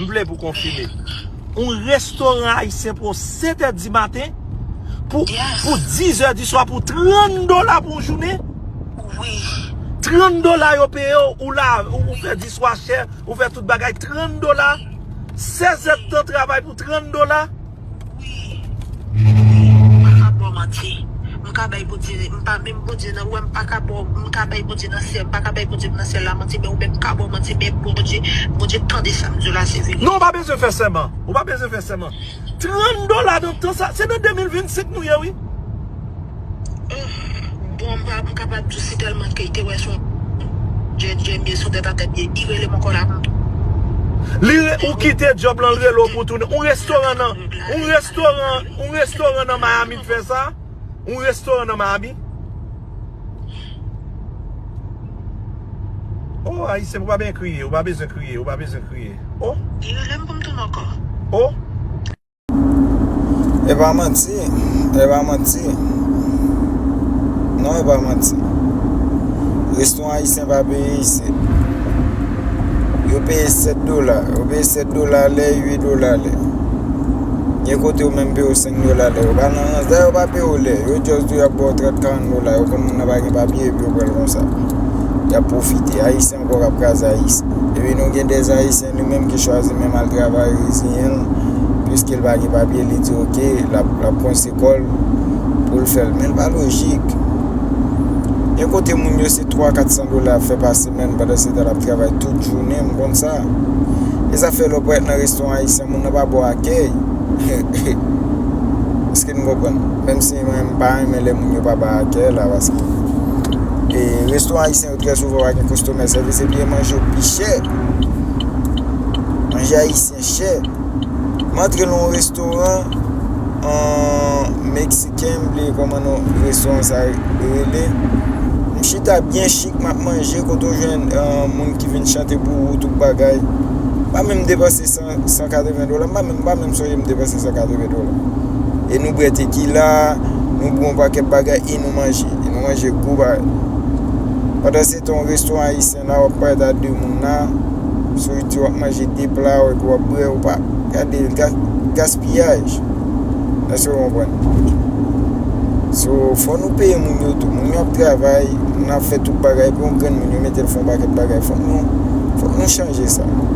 M vle pou konfime. Yon restoran ayisyen pran w 7 è di maten pou 10 è di swa pou 30 dola pou yon jounen? Wi. 30 dola yo peye w, ou la, ou fè diswachè, ou fè tout bagay, 30 dola? 16 èdtan travay pou 30 dola? Wi Wi m paka baw manti m ka bay bondye m pa menm bondye nan wèm m paka baw m ka bay bondye nan syèl m paka bay bondye m nan syèl la manti men ou menm m ka baw manti men bondye bondye tande sam diw la se vérité. Non ou pa bezwen fè sèman ou pa bezwen fè sèman 30 dola nan tan sa se nan 2025 nou ye wi. Ohh bon m pa kapab diw si telman ke te wè son djèd djèm ye son tèt a tèt ye li relem ankò la m Li re ou kite job lan l rele w pou w tounen ou restoran nan ou restoran ou restoran nan miami k fè sa ou restoran nan miami oh ayisyen pa byen kriye ou pa bezwen kriye ou pa bezwen kriye oh Li relem pou m tounen ankò oh. E pa manti, e pa manti Non e pa manti Resto ayisyen pa peye isit Yo peye 7 dola Yo peye 7 dola lè, 8 dola lè Nye kote yo menm peye yo 5 dola lè Yo pa nan rans, dè yo pa peye yo lè Yo just di yo ap baw 30, 40 dola Yo konn moun nan pa gen papye epi yo pral konsa Yap profite, ayisyen ankò kap kraze ayisyen Epi nou gen des ayisyen Li menm ki chwazi menm al travay reziyen l piske l pa gen papye li di ok lap konse kò l pou l fè l men l pa lojik gen kote moun yo se 3 400 dola ap fè pa semèn pandan se tan lap travay tout jounen m konn sa e sa fè lè w parèt nan restoran ayisyen moun nan pa ba w akèy eske nou konprann menm si mwen m pa renmen lè moun yo pa bay akèy la paske e restoran ayisyen Trè souvan ou pa gen kostomè sa vle se byen manje yo pi chè manje ayisyen chè m antre nan yon restoran meksiken m bliye kòman non restoran sa rele m chita byen chik m ap manje kote ou jwenn moun ki vin chante pou ou tout bagay m pa menm depanse san 180 dola, m pa menm, m pa menm sonje m depanse 180 dola. E nou bwè tekila, nou bwè yon pakèt bagay e nou manje. E nou manje gwo bagay. Pandan se ton restoran ayisyen la, wap pale da 2 moun la, sou li di wap manje 2 pla ou epi wap bwè ou pa. Gade, gaspiyaj. Èske ou konprann? So, fò nou peye moun yo tou. Moun yo ap travay, moun yo ap fè tout bagay, epi yon grenn moun yo mete l fè yon pakèt bagay. Fòk nou, fòk nou chanje sa.